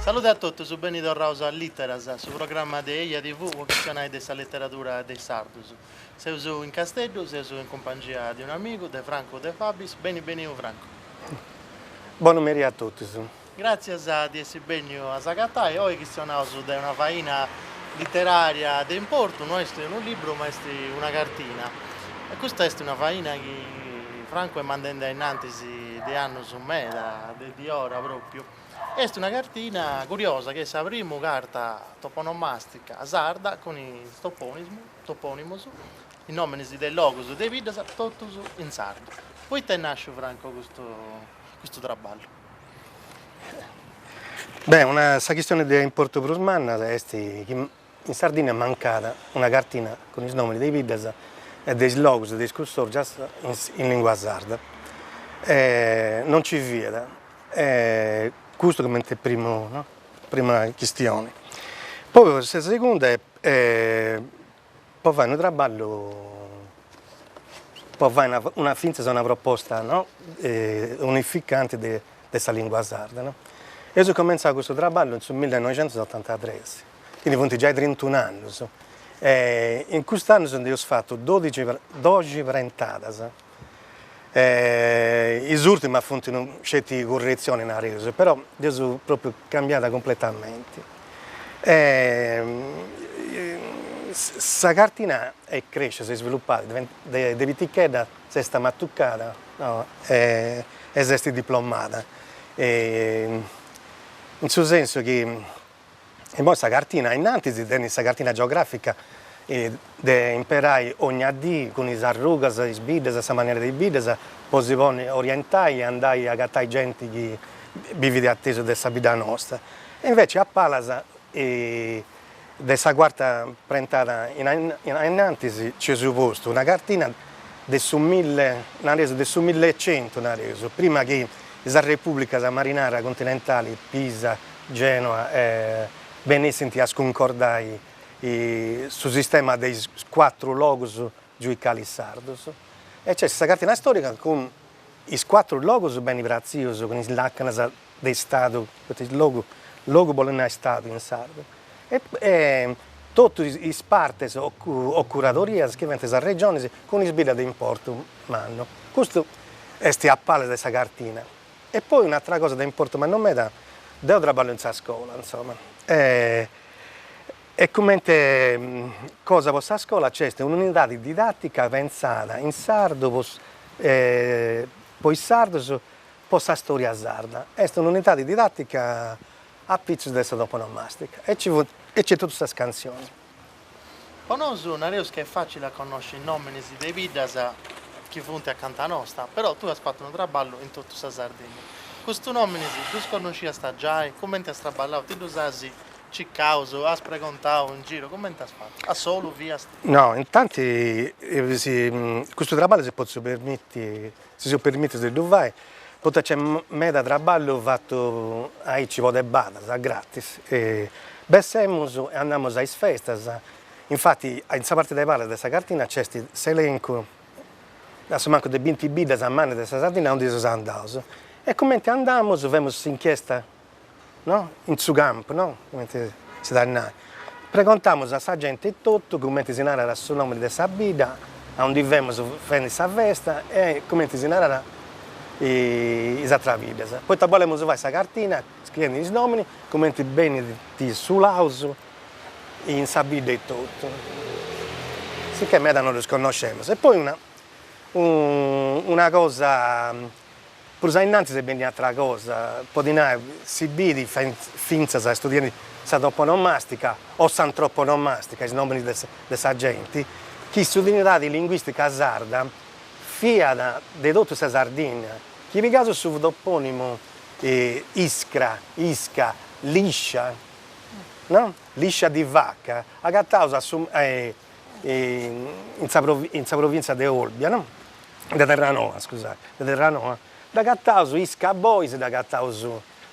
Salude a totus, beni torraus a Literas, su programma de Eja TV po chistionai de sa leteradura de is sardus. Seus in Casteddu, seus in cumpangia de un'amigu, de Francu de Fabis. Beni beniu Francu. Bonu meri a totus. Gràtzias di essi bènniu a s'agatai, oi chistionaus de una faina literària de importu, no est unu libru ma est una cartina. E custa est una faina chi Francu est mandende a innantis de annus meda, de diora pròpiu. Est una cartina curiosa chi est sa primu carta toponomàstica sarda cun is topònimus, is nòminis de logus e de biddas, totus in sardu. Poita est nàsciu, Franco, custu traballu? Beh, una, sa chistione de importu prus manna est chi in Sardìnnia mancat una cartina cun is nòmini de is biddas e de is logus de is cussorgias in lìngua sarda. E non nci fiat e custu comente primu no prima chistione. Poi sa segunda est po fai unu traballu, po fai una fintzas una proposta no unificante de de sa lìngua sarda no. Eus cumentzau custu traballu in su millenoixentosnorantatres, quindi funt giai trintun'annus e in cust'annus nd'eus fatu dodici doxi prentadas E is ùrtimas funt no sceti curretzionis, nareus, però dd'eus pròpriu cambiada cumpletamenti. E sa cartina est crèscia, s'est isvilupada, de pitichedda s'est amatucada e s'est diplomada, in su sensu chi E imoi sa cartina, innantis tenit sa cartina geogràfica de imperai ogna dì cun is arrugas, is biddas, sa manera de is biddas, po si ponni a orientai e andai a agatai genti chi bivit a tesu de sa bidda nosta. E inveci a palas de sa cuarta prentada a innantis nci eus postu una cartina de su mille, nareus de su millecentu nareus, prima chi is arrepubblicas marinaras continentali, Pisa, Gènua benessint a scuncordai su sistema de is cuatru logus giuicalis sardus e nc'est sa cartina storica cun is cuatru logus beni pratzius cun is lacanas de istadu, poita is logu logu bolit nai istadu in sardu, e totu is partes o o curadorias chi fiant sas regionis cun is biddas de importu mannu. Custu est a palas de sa cartina. E poi un'atra cosa de importu mannu meda, deo traballo in sa scola, insoma, e comente cosa po sa scola nc'est un'unidadi didatica pentzada in sardu po po is sardus, po sa storia sarda, est un'unidadi didatica apitzus de sa toponomastica e ci funt e nc'est totu sas cantzionis. Po nosu nareus ca est fàcile a connosci is nòminis de is biddas chi funt acanta nosta, però tui as fatu unu traballu in totu sa Sardinnia. Custus nòminis ddus connosciasta giai? Cumenti as traballau? Ti ddus as cicaus? As pregontau in giru? Cumenti as fatu? A solu fiast? No, intanti custu traballu si potzu permiti Si seus permìtius de ddu fai, poita nc'est meda traballu fatu aici po de badas, a gratis, e bessemus e andamus a is festas, infati in sa parte de palas de sa cartina nc'est s'elencu, a su mancu de binti biddas mannas de sa Sardinna aundi seus andaus, e cumenti andamus femus s'inchiesta no? in su campu, no? cumenti si dat nai, pregontamus a sa genti etotu cumenti si narat su nomini de sa bidda a undi femus fendi sa festa e cumenti si narat is atras biddas, poita bolemus fai sa cartina scriendi is nominis cumenti benint sulaus in sa bidda etotu, sicchè meda no ddus connoscemus. E poi una una cosa Prus ainnantis est bènnia un'atra cosa, podit nai, si bit fintzas istudiendi sa toponomàstica o s'antroponomàstica, is nòminis de sa genti, chi s'unidadi linguìstica sarda fiat de totu sa Sardìnnia, chi pigaus su topònimu Iscra, Isca, Liscia, no, Liscia di vaca, agataus a su in sa provìntzia de Olbia no, de Terranoa scusai, de Terranoa, dd'agataus Isca 'e Bois, dd'agataus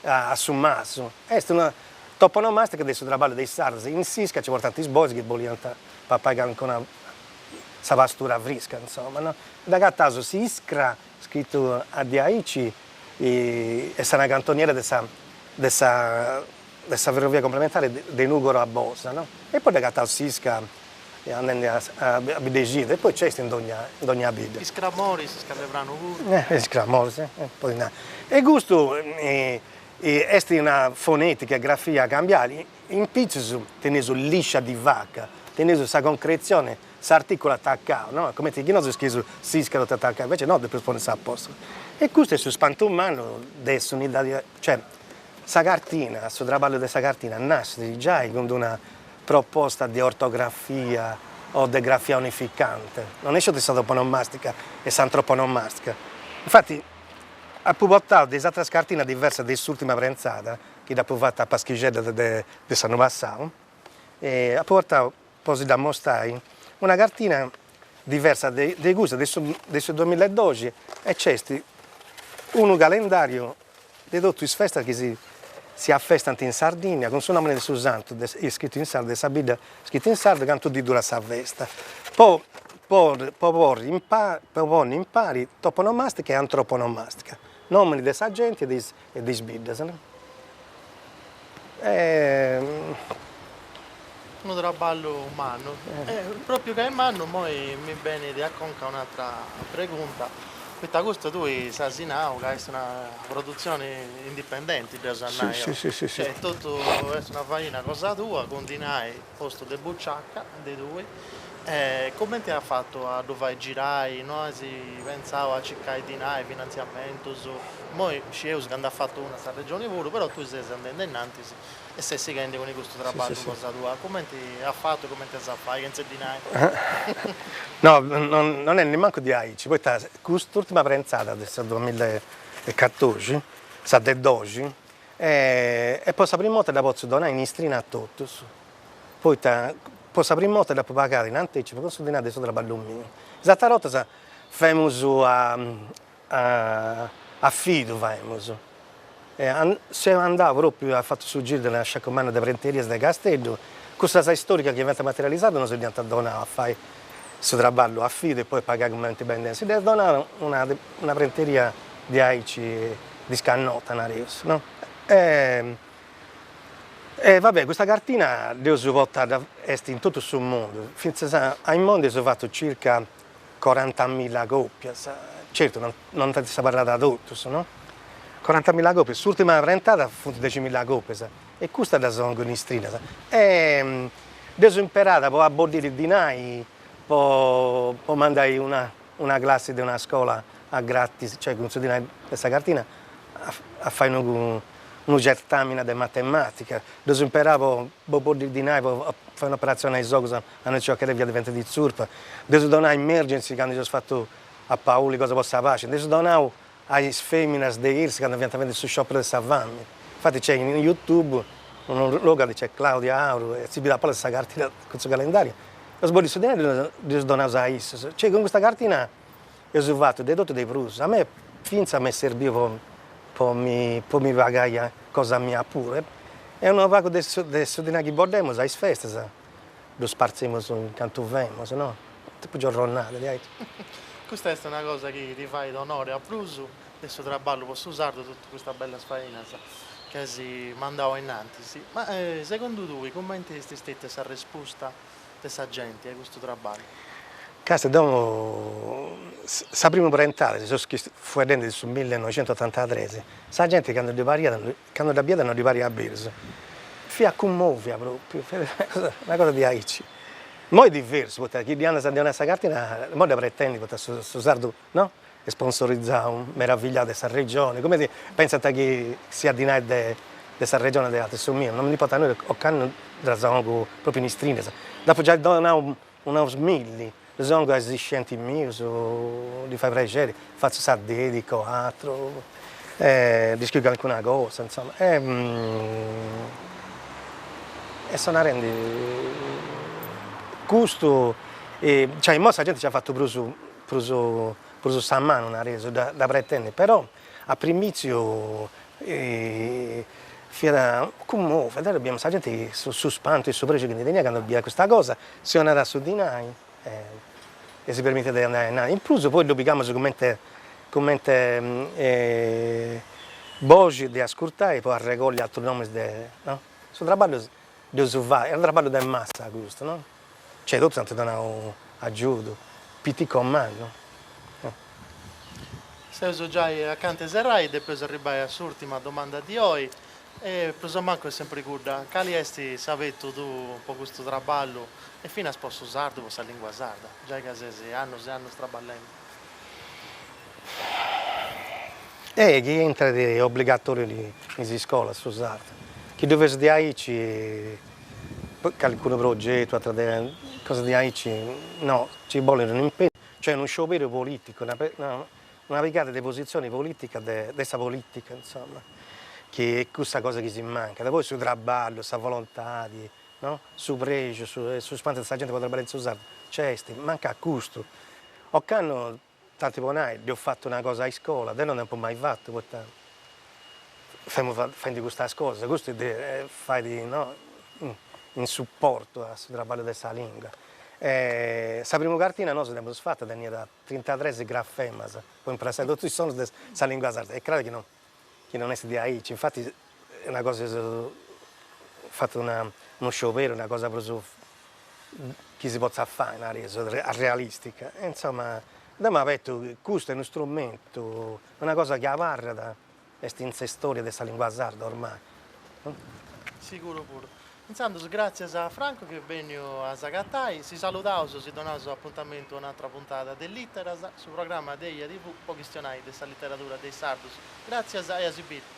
a Su Masu, est una toponomastica de su traballu de is sardos, in s'isca nci portant is bois chi boliant papai calincuna, sa pastura frisca insoma no, dd'agataus s'iscra, scritu a diaici, est una cantoniera de sa de sa de sa ferrovia complementare de Nùgoro a Bosa, no? E poi dd'agataus s'isca andende a a Biddexidru e poi nc'est in dogna in dogna bidda. Is cramoris in Scalepranu puru. E is cramoris e podis nai. E custu est una fonètica e grafia càmbiant, in pitzus teneus liscia di vaca, teneus sa concretzione, s'artìculu atacau, no? Cumenti chi nosu scrieus s'isca totu atacau, invece no, depeus ponni s'apòstrofu. E custu est su spantu mannu de s'unidadi Cioè, sa cartina, su traballu de sa cartina nascit giai cun d'una proposta de ortografia o de grafia unificante, non est sceti de sa toponomastica e s'antroponomastica. Infati, apu portau de is atras cartinas diversas de s'ùrtima prentzada, chi dd'apu fata a paschixeddas de s'annu passau, apu portau po si dd'ammostai, una cartina diversa de de cussa de su de su duamilla e doxi e nc'est unu calendàriu de totu is festas chi si si afestant in Sardìnnia, cun su nòmini de su santu iscritu in sardu, de sa bidda iscrita in sardu, cantu diis durat sa festa, po po po porri in po ponni in pari toponomàstica e antroponomàstica, nòmini de sa genti e de is e de is biddas, no? Est unu traballu mannu, e propriu ca est mannu moi mi benit a conca un'atra pregunta, poita custu tui s'as nau ca est una produtzioni indipendenti, dd'eus a nai, cioè totu est una faina cosa tua, cun dinai postu de buciaca de tui e comenti as fatu a ddu fai girai, no as pentzau a circai dinai, finantziamentus, imoi scieus ca nd'at fatu una sa Regioni puru, però tui ses andendi ainnantis e ses sighendi cun custu traballu cosa tua, comenti as fatu e comenti as a fai chentza dinai? No non est nemancu diaici, poita cust'urtima prentzada de sa duamilla e catòrdixi, sa de doxi, E po sa primu 'orta dda potzu donai in istrina a totus, poita po sa primu 'orta dd'apu pagada in antecipu cun su dinari de su traballu miu. Is ateras 'ortas faimus a fidu faimus, seu andau propriu, apu fatu su giru de unu sciacu mannu de prenterias de Casteddu, cussas istoricas chi fiant materialisadas no si dd'iant donau a fai su traballu a fidu e poi a pagai cumenti b'aiat dènniu. Si dd'at donada una prenteria diaici disconnota nareus no, e e va be' custa cartina dd'eus portada, est in totu su mundu, fintzas a imoi nd'eus fatu circa corantamilla còpias, certu no no nd'ant abarrada totus no, corantamilla còpias, s'ùrtima prentada funt deximilla còpias, e custas ddas pongu in istrinas, e dd'eus imperada po boddiri dinai po mandai una una classi de una scola a gratis, cioè cun su dinai de sa cartina a fai unu certamina de matematica, dd'eus imperau po po boddiri dinai po fai un'operatzioni a is ogus a una piciochedda fiat diventendi tzurpa, dd'eus donau a Emergency candu eus fatu a Pauli cosa po sa paci, nd'eus donau a is feminas de iRS candu fiant fadendi su scioperu de sa fami. Infati nc'est in Youtube unu logu chi nc'est Claudia Aru e si bit a palas sa cartina cun su calendariu. Eus boddiu su dinai, dd'eus donau a issus. Cioè cun custa cartina eus fatu de totu e de prus. A mei fintzas m'est serbiu po po mi po mi pagai cosa mia puru. E unu pagu de su de su dinai chi boddemus a is festas. Ddus partzimus in cantu femus, no? Tipu giorronada, diaici. Custa est una cosa chi ti fait onori a prus de su traballu po su sardu totu custas bellas fainas chi as mandau a innantis. Ma segundu tui cumenti est stetia s'arrespusta de sa genti a custu traballu? Castia, de is primus prentadas, seus fueddendi de su millenoixentuotantadres, sa genti candu ddi pariat Cando dda biat no ddi pariat berus, fiat cummòvia pròpiu, fiat una cosa diaici. Imoi diversu, poita chi ddi andas a ddi 'onai sa cartina, imoi dda pretendit, poita su su sardu, no, sponsorizau, meravigliau de sa regioni, cumenti pentzant chi siat dinai de de sa regioni o de atru, su miu, no mi ndi importat nudda, ocannu ddas 'ongu pròpiu in istrinas, dd'apu giai donau Unos milli, ddus 'òngiu a is iscientis mius, ddi fait prexeri, fatzu sa dedica o atru, e ddi scriu calicuna cosa, insoma, e e so narendi, custu, cioè imoi sa genti ci at fatu prus prus prus sa manu, nareus, dda dda pretendit, però A primìtziu fiat cummòvia, biemus sa genti, su spantu e su prexu chi ndi teniat cando bidiat custa cosa, si 'onàt su dinai e si permitit de andai a nai, in prus poi ddu pigamus cumenti cumenti boxi de ascurtai po arregolli atrus nomis de no. Su traballu dd'eus fatu, est unu traballu de massa custu no Cioè totus ant donau agiudu, piticu o mannu. Seus giai acanta 'e serrai, depeus arribbai a s'ùrtima domanda de oi, e prus o mancu est sempri cudda, cali est s'abetu tuu po custu traballu e finas po su sardu, po sa lìngua sarda, giai ca ses annus e annus traballendi? Ehi, chi intrat obligatoriu in is iscolas su sardu, chi ddu fessit diaici. Calcunu progetu, atras cosas diaici, no, ci bolit unu impegnu, cioè unu scioberu politicu, una una pigada de positzioni politica de de sa politica, insomma, chi est cussa cosa chi si mancat, poi su traballu, sa volontadi, no, su prexu, su e su spantu de sa genti po trabballai in su sardu, nc'est, mancat custu, ocannu Tanti po nai, deu fatzu una cosa a iscola, deu non nd'apu mai fatu, poita femu faendi custas cosas, custu fait no in suportu a su traballu de sa lingua. Sa primu cartina nosu dd'emus fata, teniat trintatres grafemas po impressai totu is sonus de sa lingua sarda, est craru chi no chi non est diaici, infati una cosa si seus fatu una unu scioberu, una cosa prus chi si potzat fai nareus, arrealistica, e insoma deu m'abetu chi custu est unu strumentu, una cosa chi abarrat, est in s'istória de sa lingua sarda ormai. Siguru puru. Intzandus gràtzias a Franco chi est bènniu a s'agatai, si saludaus, si donaus apuntamentu a un'atra puntada de Lìteras, su programma de EjaTV po chistionai de sa literadura de is sardus. Gràtzias e a si biri!